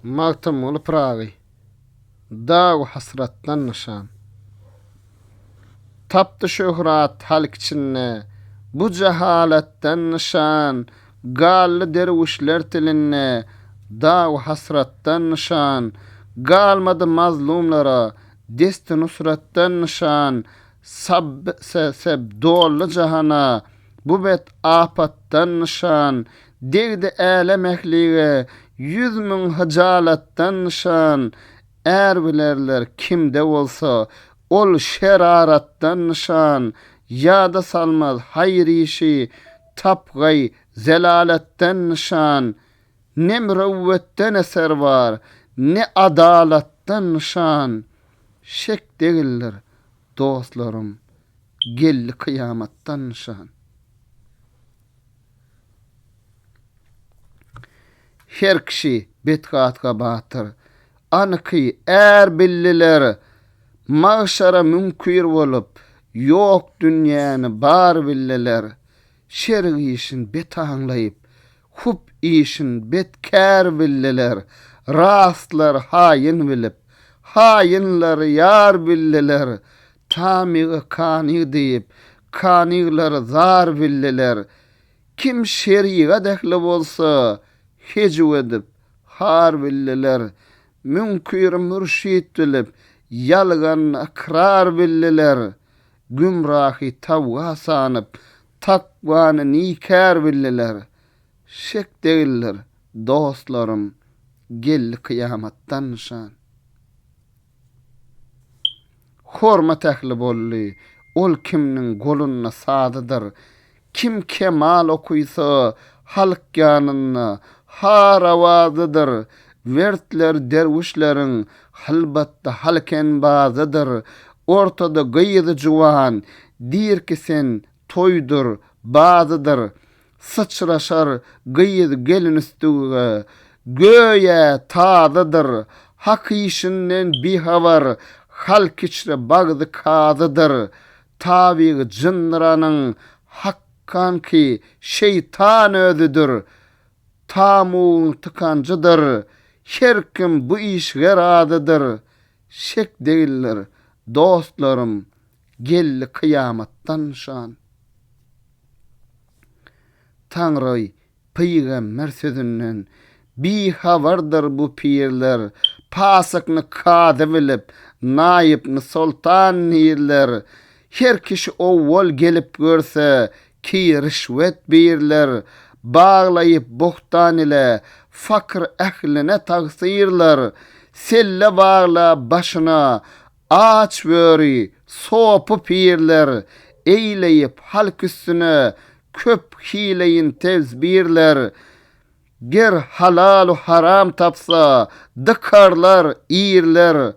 Magtymguly Pyragy Dagu hasratdan nyşan Tapdy şöhrat halk içinde Bu jahalatdan nyşan Galdy derwüşler tilinde Dagu hasratdan nyşan Galmady mazlumlara Desti nusratdan nyşan Sab se seb dolly jahana Bu bet apatdan nyşan Degdi älem ählige Ýüz müň hyjalatdan nyşan Är bilerler kimde bolsa Ol şeraratdan nyşan Ýada salmaz haýyr işi Tapgaý zelalatdan nyşan Ne mürewwetden eser bar Ne adalatdan nyşan Şek degildir dostlarym geldi kyýamatdan nyşan. Her kişi betgatga batyr anyky är bildiler Magşara müňkür bolup ýok dünýäni bar bildiler Şerik işin bet aňlaýyp Hup işin bet kär bildiler, Rastlar haýyn bilip, Haýynlar ýar bildiler, Tamygy kany diýip, Kanyglar zar bildiler. Kim şerigat ähli bolsa, Hejiw edip, har bildiler, Müňkiri mürşit bilip, Ýalgan ykrar bildiler. Gümrahy tawga sanyp, takwany nikär bildiler. Şek degildir, dostlarym, geldi kyýamatdan nyşan. Hormat ähli boldy, ol kimniň golunda sazydyr, Kim kemal okysa, halk ýanynda har awazydyr, Wertler derwüşleriň hylbatda halk enbazydyr. Ortada gyzy juwan, dirki sen toýdur, bazydyr, Syçraşar gyz gelin üstüge, göýä tazydyr, Hak işinden bihabar, halk içre bagzy kazydyr, Tabygy jyndyranyň hakkanky şeýtan özüdir. Tamugyň tykanjydyr. Her kim bu işige razydyr. Şek degildir, dostlarym, geldi kyýamatdan nyşan. Taňry Pygamber sözünden bihabardyr bu pirler, Pasykny kazy bilip, naýypny soltan nirler. Her kişi owwal gelip görse, ki rişwet birler, Baglaýyp bohtan ile, fakyr ähline tagsyrlar. Selle bagla başyna, Aç böri, sopy pirler, Eýleýip halk üstüne köp hileýin tezbirler. Ger halalu haram tapsa, dykarlar irler,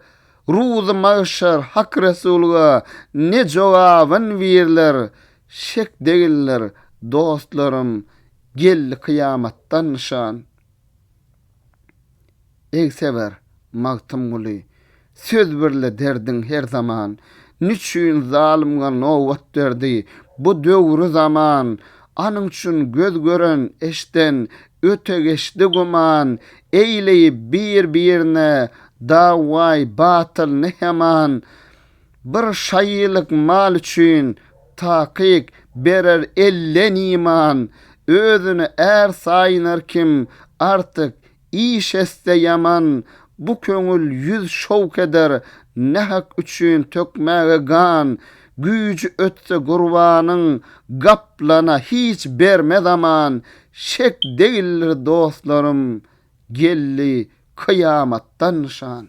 Ruzy magşar Hak Resulga ne jogabyn birler. Şek degildir, dostlarym, geldi kyýamatdan nyşan. Egseber Magtymguly söz birle derdiň her zaman Niçün zalymga nobat berdi bu döwri zaman Anyň üçin göz gören eşden öte geçdi güman Eýleýip bir birine dawaý batyl ne heman Bir şaýylyk mal üçin takyk berer elden iman, özüni är saýynar kim artyk iş etse ýaman, bu köňül ýüz şowk eder nähak üçin tökmäge gan, güýji ötse gurbanyň gaplana hiç bermez aman, şek degildir dostlarym geldi Kyýamatdan nyşan.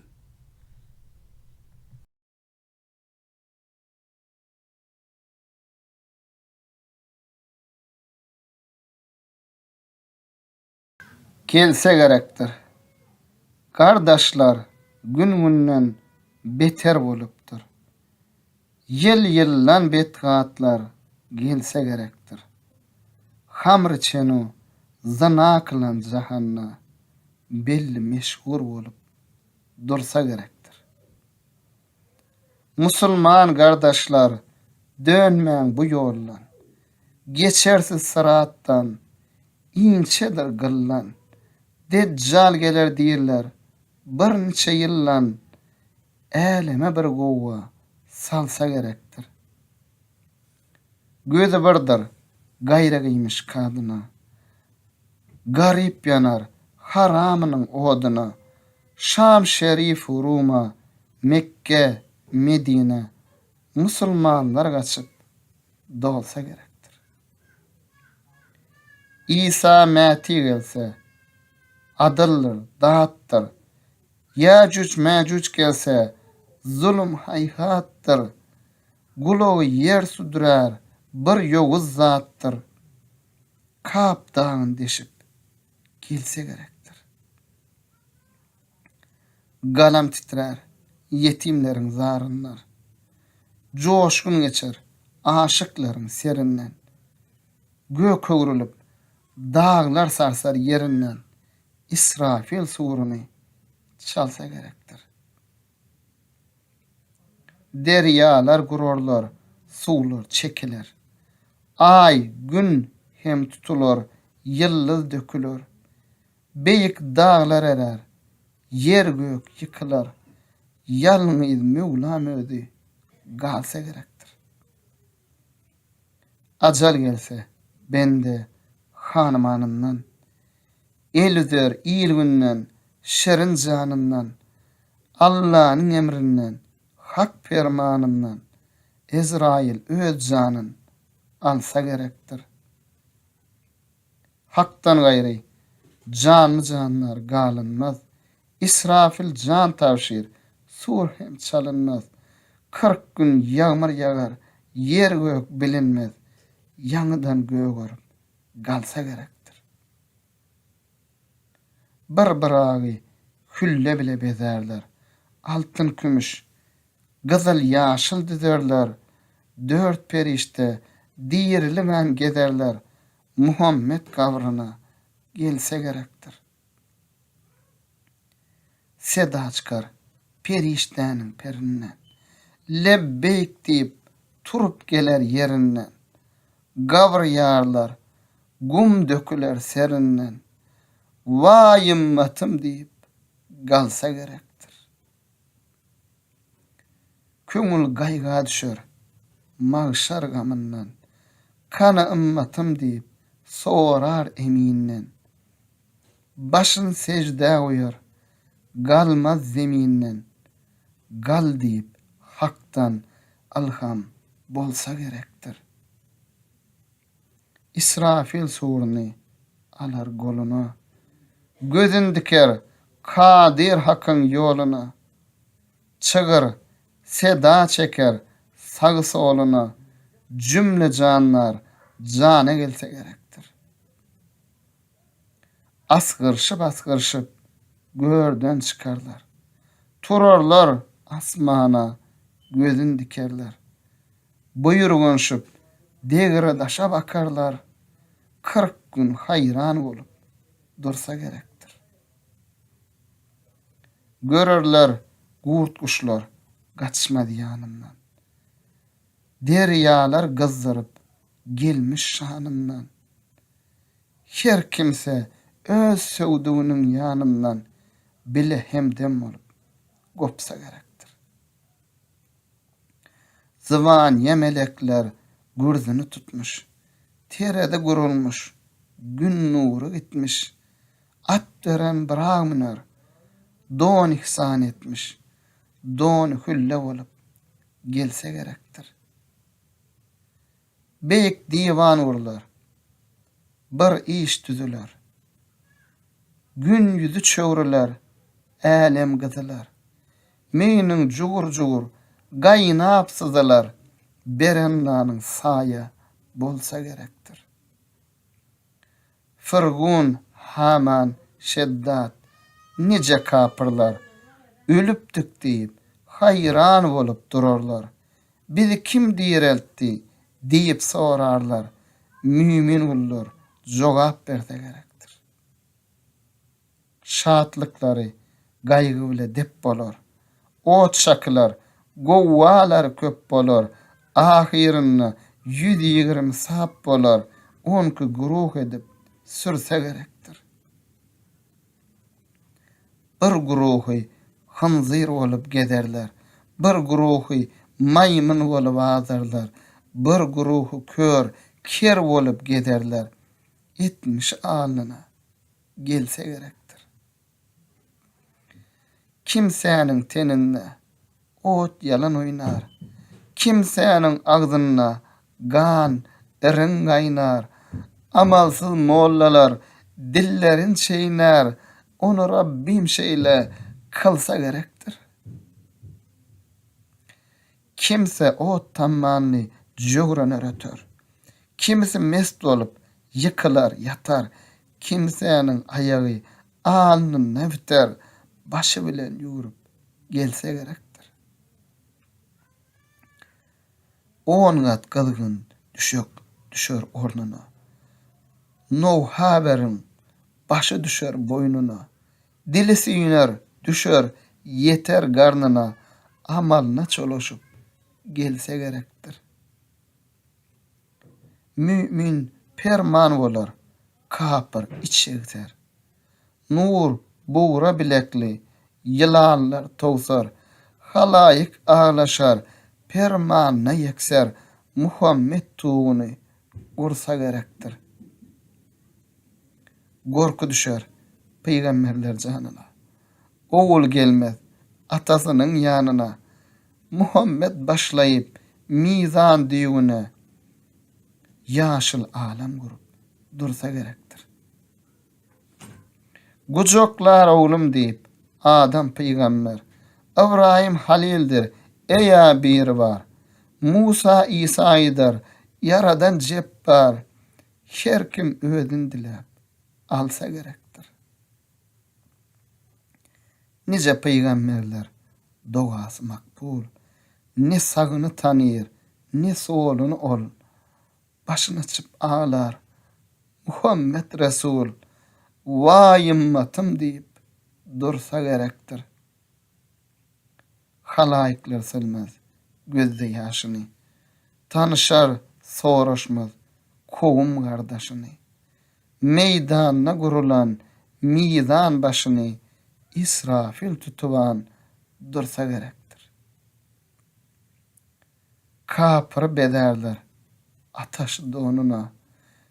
Gelse gerekdir. Gardaşlar gün günden beter bolupdyr. Ýyl-ýyldan betgatlar gelse gerekdir. Hamry çenu zyna kylan jahanda belli meşhur bolup dursa gerekdir. Musulman gardaşlar dönmäň bu ýoldan, geçersiz syratdan inçedir gyllan, Dejjal geler diýrler birniçe ýyldan, Äleme bir gowa salsa gerekdir. Gözi birdir gaýragyýmiş kadyna. Garyp ýanar haramynyň odyna. Şam şerifu Ruma, Mekge, Medine musulmanlar gaçyp dolsa gerekdir. Isa mäti gelse, adyldyr, datdyr, Ýajuj-mäjuj gelse, zulum haýhatdyr, Gulagy ýer südürär bir ýowuz zatdyr, Kap dagyn deşip, gelse gerekdir. Galam titrär ýetimleriň zaryndan, Joşgun geçer aşyklaryň serinden, Gök öwrülip, daglar sarsar ýerinden, Israfil suruny çalsa gerekdir. Derýalar gurarlar, suwlar çekiler. Aý, Gün hem tutular, ýyldyz döküler. Beýik daglar erer, ýer-gök ýykylar. Ýalňyz Möwlam özi galsa gerekdir. Ajal gelse, bende hanymanyndan, El üzer il-günden, şirin janyndan, Allanyň emrinden, Hak permanyndan, Ezraýyl öz janyn alsa gerekdir. Hakdan gaýry, janly-jandar galynmaz, Israfil jan tabşyr, sur hem çalynmaz. Kyrk gün ýagmyr ýagar, ýer-gök bilinmez, Ýaňydan gögerim, galsa gerekdir. Bir Byragy külle bile bezärler, Altyn-kümüş gyzyl-ýaşyl düzerler, dört perişde diriligem gezerler, Muhammet gabryna gelse gerekdir. Seda çykar perişdäniň perinden, Lebbeýk diýip, turup geler ýerinden, Gabry ýarlar, gum döküler serinden, Waý ymmatym diýip, galsa gerekdir. Köňül gaýga düşer, magşar gamyndan, Kany ymmatym diýip, sorar Eminden. Başyn seždä goýar, galmaz zeminden, Gal diýip, Hakdan ylham bolsa gerekdir. Ysrafil suruny alar goluna, Gözün diker Kadyr Hakyň ýoluna. Çygyr seda çeker sag-soluna, Jümle jandar jana gelse gerekdir. Asgyrşyp-asgyrşyp görden çykarlar. Turarlar asmana gözün dikerler. Buýurgynşyp degre daşa bakarlar. Kyrk gün haýran bolup dursa gerekdir. Görerler gurt-guşlar gaçmaz ýanyndan. Derýalar gyzdyryp gelmiş şanyndan. Her kimse öz söwdüginiň ýanyndan bile hemdem bolup gopsa gerekdir. Zybanyýa melekler gürzüni tutmuş, terezi gurulmuş, gün nury gitmiş, at beren bramner don ihsan etmiş, don hülle bolup gelse gerekdir. Beýik diwan gurlar. Bir iş düzüler. Gün ýüzi çöwrüler, älem gyzylar. Meýniň jugur-jugur gaýnap syzylar, Berennanyň saýa bolsa gerekdir. Firgun, Haman, Şeddad, nije kapyrlar, ölüpdik diýip, haýran bolup durarlar. Bizi kim direltdi? diýip sorarlar. Mümin gullar jogap berse gerekdir. şatlyklary gaýgy bile dep bolar. Ot şakylar, gowwalar köp bolar, ahyrynda ýüz ýigrimi sap bolar, onki guruh edip sürse gerekdir. Bir guruhy hynzyr bolup gezerler, bir guruhy maýmyn bolup azarlar, bir guruhy kör, ker bolup gezerler. Etmiş alnyna gelse gerekdir. Kimsäniň teninde ot ýalan oýnar, kimsäniň agzynda gan iriň gaýnar. Amalsyz mollalar dillerin çeýnär, ony Rabbym şeýle kylsa gerekdir. Kimsi ot tammanly jöwrener öter. Kimsi mes bolup, ýykylar, ýatar. Kimsäniň aýagy alnynda biter, başy bilen ýüwrüp gelse gerekdir. On gat gyzgyn düşek düşer ornuna. Nowhaberiň başy düşer boýnuna. Dili süýner, düşer, ýeter garnyna, amalyna çolaşyp gelse gerekdir. Mümin perman bolar, kapyr iç şegser. Nur bugra bilekli ýylanlar towsar, halaýyk aglaşar, permanyna ýekser, Muhammet tuguny Gursa gerekdir. Gorky düşer pygamberler janyna. Ogul gelmez atasynyň ýanyna. Muhammet başlaýyp mizan düýbüne. Ýaşyl alam gurup dursa gerekdir. Gujaklar oglum diýip, Adam pygamber. Ybraýym halildir, Eýa Biribar. Musa Isa aýdar, Ýaradan jepbar. Her kim özüni diläp, alsa gerekdir. Nije pygamberler dogasy makbul. Ne sagyny tanyr, ne soluny ol. Başyny açyp aglar. Muhammet Resul, Waý ymmatym diýip dursa gerekdir. Halaýyklar silmez gözde ýaşyny. Tanyşar, soraşmaz kowum gardaşyny. Meýdanda gurulan mizan başyny Israfil tutuban dursa gerekdir. Kapyry bezärler ataş donuna,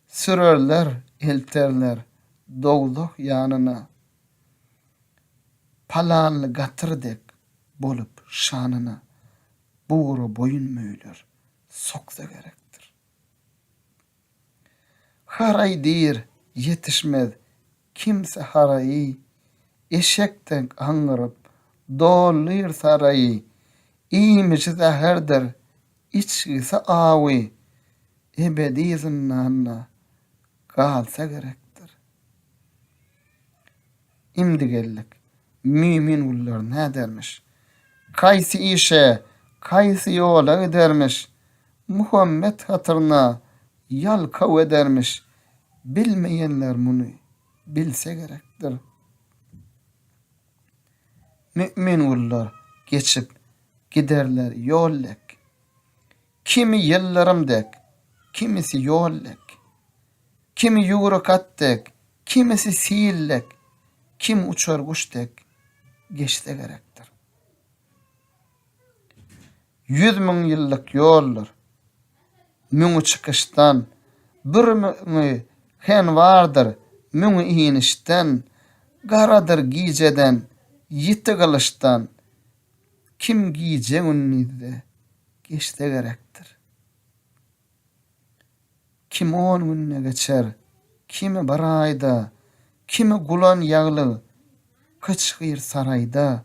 Sürerler, elterler dowzah ýanyna. Palanly gatyr dek bolup şanyna, Bugra boýun möýler soksa gerekdir. Haraý diýr, ýetişmez Kimsi haraýy, eşek deňk aňňyryp, dolýr saraýy. Iýmiji zäherdir, içgisi awy, ebedi zyndanda galsa gerekdir. Imdi geldik. Mümin gullar nädermiş? Kaýsy işe, kaýsy ýola gidermiş? Muhammet hatyryna Ýalkaw edermiş. Bilmeýänler muny bilse gerekdir. Mümin gullar geçip giderler ýol dek. Kimi ýyldyrym dek, kimisi ýol dek. Kimi ýüwrük at dek, kimisi sil dek, kim uçar guş dek geçse gerekdir. Ýüz müň ýyllyk ýoldur. Müňi çykyşdan, bir müňi hen bardyr, müňi inişden, garadyr gijeden, ýiti gylyçdan, kim gije-gündizde geçse gerekdir. Kim on günde geçer, kimi bir aýda, kimi gulan ýaglyk gyçgyr saraýda,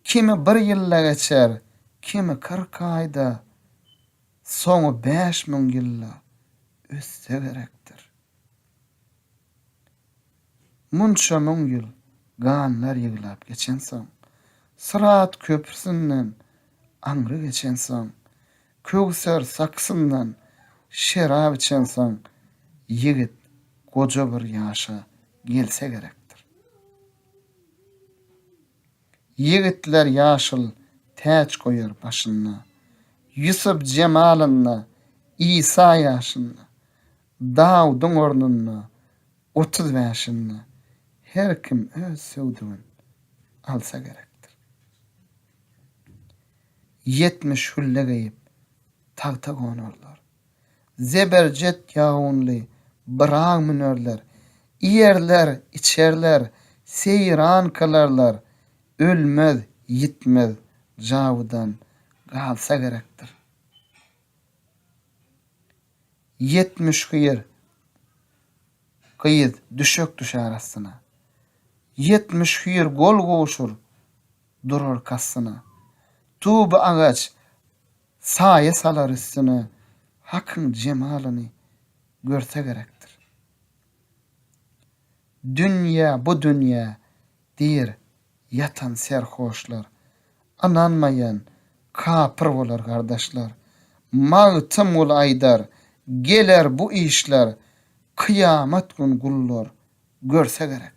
kimi bir ýylda geçer, kimi kyrk aýda, soňy bäş müň ýylda ötse gerekdir. Munça müň ýyl ganlar ýyglap geçensoň, Syrat köprüsinden aňry geçensoň, Köwser sakysyndan şerap içensoň, Ýigit goja bir ýaşa gelse gerekdir. Ýigitler ýaşyl täç goýar başynda, Ýusup jemalynda, Isa ýaşynda, Dawudyň ornunda, Otuz bäşinde her kim öz söwdügin alsa gerekdir. Ýetmiş hülle geýip, tagta gonarlar. Zeberjet ýagynly Byraga münerler. Iýerler, içerler, seýran kylarlar. Ölmez, ýitmez jawudan galsa gerekdir. Ýetmiş hyýr gyz düşek düşer astyna. Ýetmiş hyýr gol gowşur durar kastyna. Tuby agaç saýa salar üstüne, Hakyň jemalyny görse gerekdir. Dünýe, bu dünýe Diýer, ýatan serhoşlar. Ynanmaýan, kapyr bolar gardaşlar. Magtymguly aýdar, geler bu işler, kyýamat gün gullar görse gerekdir.